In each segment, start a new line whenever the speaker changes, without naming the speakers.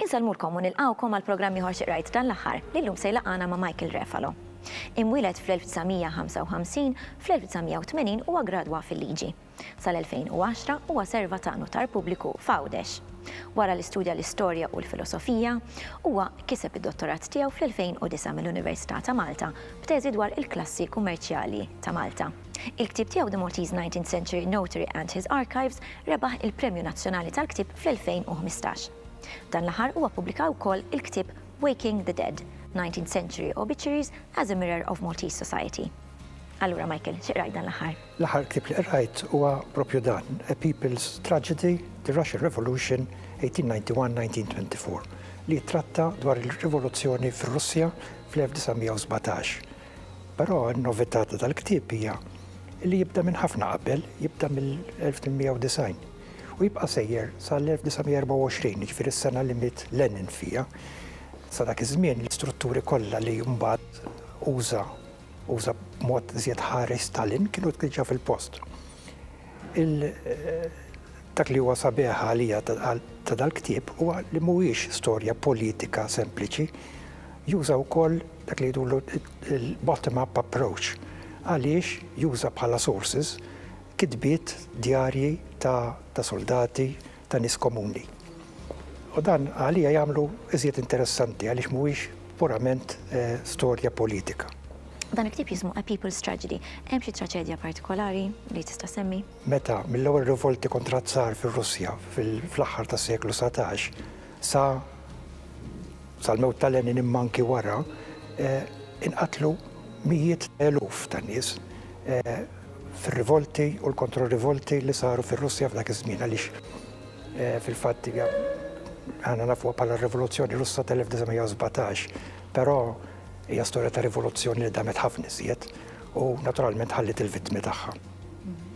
Insellmulkom u nilqgħukom għal programm ieħor xi qrajt dan l-aħħar li llum se jlaqqana ma' Michael Refalo. Imwieled fl-1955, fl-1980 huwa ggradwa fil-liġi. Sal-2010 huwa serva ta' Nutar Pubbliku f'Għawdex. Wara li studja l-Istorja u l-Filosofija, huwa kiseb id-Dottorat tiegħu fl-2009 mill-Università ta' Malta b'teżi dwar il-klassi kummerċjali ta' Malta. Il-ktieb tiegħu The Maltese Nineteenth Century Notary and His Archives rebaħ il-Premju Nazzjonali tal-Ktieb fl-2015. Dan l-aħħar huwa ppubblika wkoll il-ktieb Waking the Dead, Nineteenth Century Obituaries as a Mirror of Maltese Society. Allura Michael, xi qrajt dan l-aħħar? L-aħħar ktieb li qrajt
huwa proprju dan, A People's Tragedy, The Russian Revolution, 1891-1924, li jittratta dwar ir-rivoluzzjoni fir-Russja fl-1917. Però n-novità ta' dal-ktieb hija li jibda minn ħafna qabel, jibda mill-1890 u jibqa' sejjer sal-1924, jiġifieri s-sena li miet Lenin fiha. Sa dak iż-żmien l-istrutturi kollha li mbagħad uża uża b'mod żjed ħari Stalin, kienu tliġġa fil-post. Dak li huwa sabiħ għalija ta' dal-ktieb huwa li mhuwiex storja politika sempliċi, juża wkoll dak li jidulu il-bottom-up approach għaliex juża bħala sources kitbiet djarji ta' soldati ta' nies komuni. U dan għalija jagħmlu iżjed interessanti għaliex mhuwiex purament storja politika. Dan il-ktieb
jismu A People's Tragedy. Hemm xi traċedja partikolari li tista' ssemmi? Meta, mill-ewwel
rivolti kontra z-zar fir-Russja fl-aħħar tas-seklu satax sa sal-mewt ta' Lenin imma anki wara, inqatlu mijiet ta' eluf ta' nies. fir-rivolti u l-kontro-rivolti li saru fir-Russja f'dak iż-żmien għaliex fil-fatt hija aħna nafuha bħala r-Rivoluzzjoni Russa tal-1917, però hija storja ta' rivoluzzjoni li damet ħafna iżjed u naturalment ħallit il-vittmi tagħha.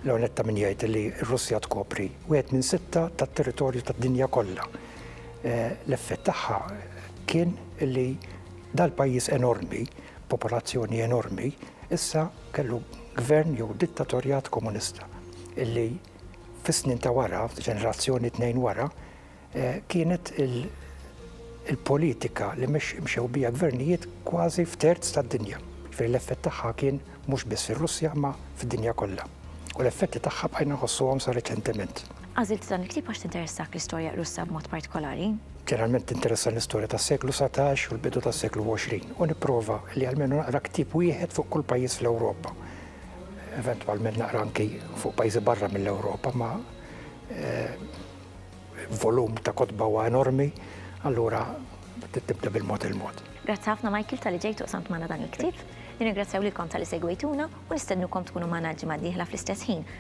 Leonetta min jgħid li r-Russja tkopri wieħed minn sitta tat-territorju tad-dinja kollha. L-effett tagħha kien li dal-pajjiż enormi, popolazzjoni enormi, issa Kellu gvern jew dittatorjat komunista illi fis-snin ta' wara, ġenerazzjoni tnejn wara, eh, kienet il-politika li mxew bija gvernijiet kważi f'terz tad-dinja. Ġifieri l-effett tagħha kien mhux biss fir-Russja ma fid-dinja kollha. U l-effetti tagħha bqajna nħossuhom sa reċentement. Għażilt dan il-ktieb
għax tinteressak l-istorja Russa b'mod partikolari? Ġeneralment tinteressani
l-istorja tas-seklu satax u l-bidu tas-seklu għoxrin u nipprova li almenu naqra ktieb wieħed fuq kull pajjiż fl-Ewropa. Eventwalment naqra anki fuq pajjiżi barra mill-Ewropa ma eh, volum ta' kotba huwa enormi, allura tibda bil-mod il-mod. Grazzi ħafna Michael
tal-li ġejtu qsamt magħna dan il-ktieb. Nirringrazzjaw lilkom tal-li segwejtuna u nistednukom tkunu magħna l-ġimgħa d-dieħla fl-istess ħin